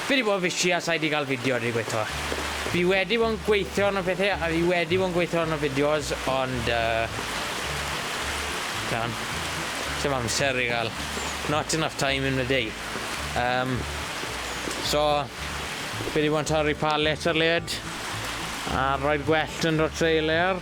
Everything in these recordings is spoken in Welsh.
Fi di bod yn fishi a sai di gal fideo a dwi gweitho. Fi wedi bod yn gweithio arno pethe a fi wedi bod yn gweithio arno fideos ond yy t'am, sim amser i gal. Not enough time in the day. Yym so fi di bod yn torri palets ar led a roi'r gwellt yn dod trwy layer.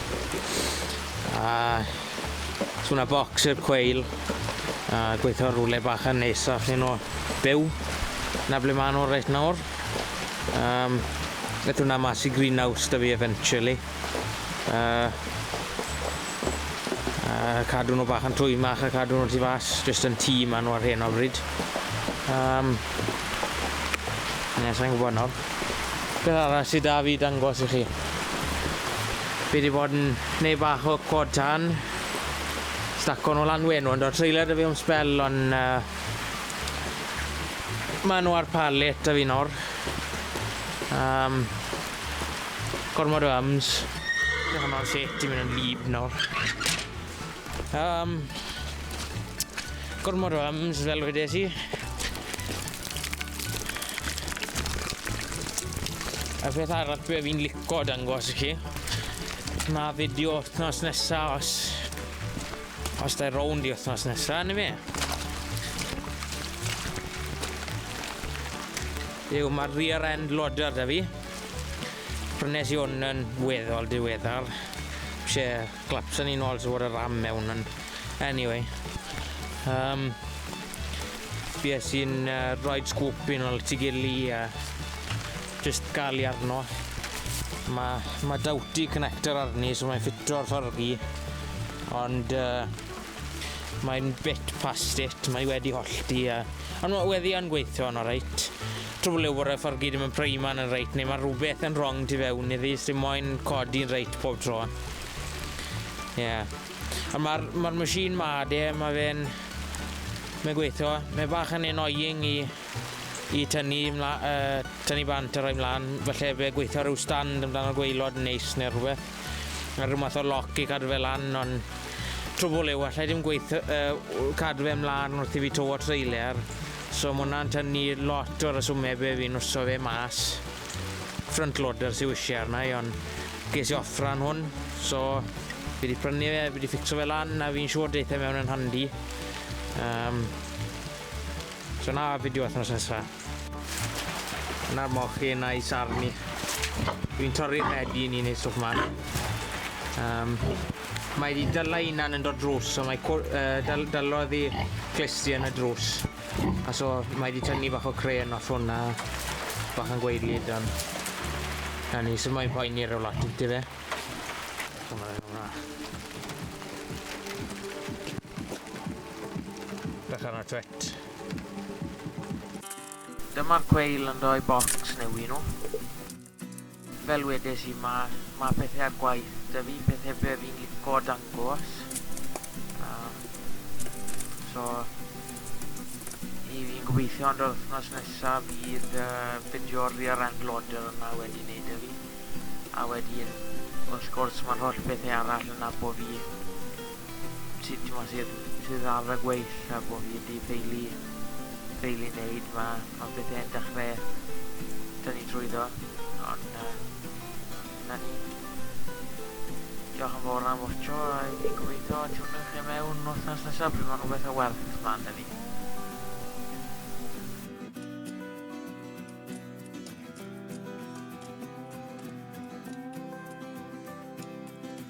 A so na bocs i'r cweil a gweithio rhywle bach yn nesaf iddyn nhw byw. Na ble maen nhw reit nawr. Um, Gath hwnna mas i greenhouse da fi eventually. Uh, uh, cadw nhw bach yn twymach a cadw nhw tu fas, jyst yn tîm maen nhw ar hyn o bryd. Um, Ie, sa'n gwybod nawr. Beth arall sy 'da fi i dangos i chi? Fi 'di bod yn neud bach o quad tân. Staco nw lan wenu ond o'dd trailer 'da fi am sbel on yy ma' nw ar pallet 'da fi nawr. Yym gormod o ums. Beth am y set yn mynd yn wlyb nawr. Yym gormod o ums fel wedes i. A beth arall be' fi'n lico dangos i chi ma' fideo wthnos nesa os os 'na rownd i wthnos nesa on' yfe? yw ma' rear end loader 'da fi. Prynes i 'wn yn weddol diweddar. Isie Clapton ni'n ôl sy'n fod y ram mewn yn... Anyway. Um, fi es i'n uh, rhoi sgwp i'n ôl ti gili a just gael i arno. Mae ma dawti connector arni, so mae'n ffito'r ffordd i. Ond uh, mae'n bit past it, mae wedi hollti. A, ond mae wedi yn gweithio yn oreit. Trwy le wre fforgi dim yn prei man yn reit neu mae rhywbeth yn wrong tu fewn iddi sy'n moyn codi'n reit pob tro. Ie. Yeah. Ond mae'r ma machine ma de, mae fe'n... Mae'n gweithio. Mae bach yn annoying i, i tynnu, mla, uh, tynnu bant a rhoi mlaen. Felly fe gweithio rhyw stand amdano'r gweilod yn neis neu rhywbeth. Mae rhyw math o loc i cadw fe lan, ond trwbl yw, allai ddim gweithio, uh, cadw fe mlaen wrth i fi to o trailer. So ma hwnna'n tynnu lot o resume be fi'n wso fe mas. Front loader sy wisie arna i ond ges i offer ar hwn so fi wedi prynu fe, fi wedi ffixo fe lan a fi'n siŵr deitha mewn yn handi. Um, so na fideo wythnos nesa. Na'r mochyn a'i sarni. Fi'n torri'r rhedi ni'n ei stwff ma. Um, Mae wedi dylla unan yn dod drws, so mae cw- uh, dyl- dylo ddi glisti yn y drws. A so mae wedi tynnu bach o cren off hwnna, bach yn gweidlyd dan. Na ni, so mae'n poeni rhyw lot, dy fe? Bach arno twet. Dyma'r gweil yn doi bocs neu un nhw. Fel wedes i ma ma pethe ar gwaith da fi pethe be fi'n lico dangos um, so i fi'n gobeithio ond yr wythnos nesa fydd uh, fideo ar Rear End Loader yna wedi neud e fi a wedyn wrth gwrs mae'r holl bethau arall yna bo fi sydd t'mod sydd sydd ar y gweill a bo' fi 'di ffeili ffeili neud ma' ma' pethe'n dechre tynnu trwyddo ond yy 'na ni. Diolch yn fawr am watcho a i fi gobeithio tiwnwch chi mewn wythnos nesa pryd ma' rhywbeth o werth mlan 'da fi.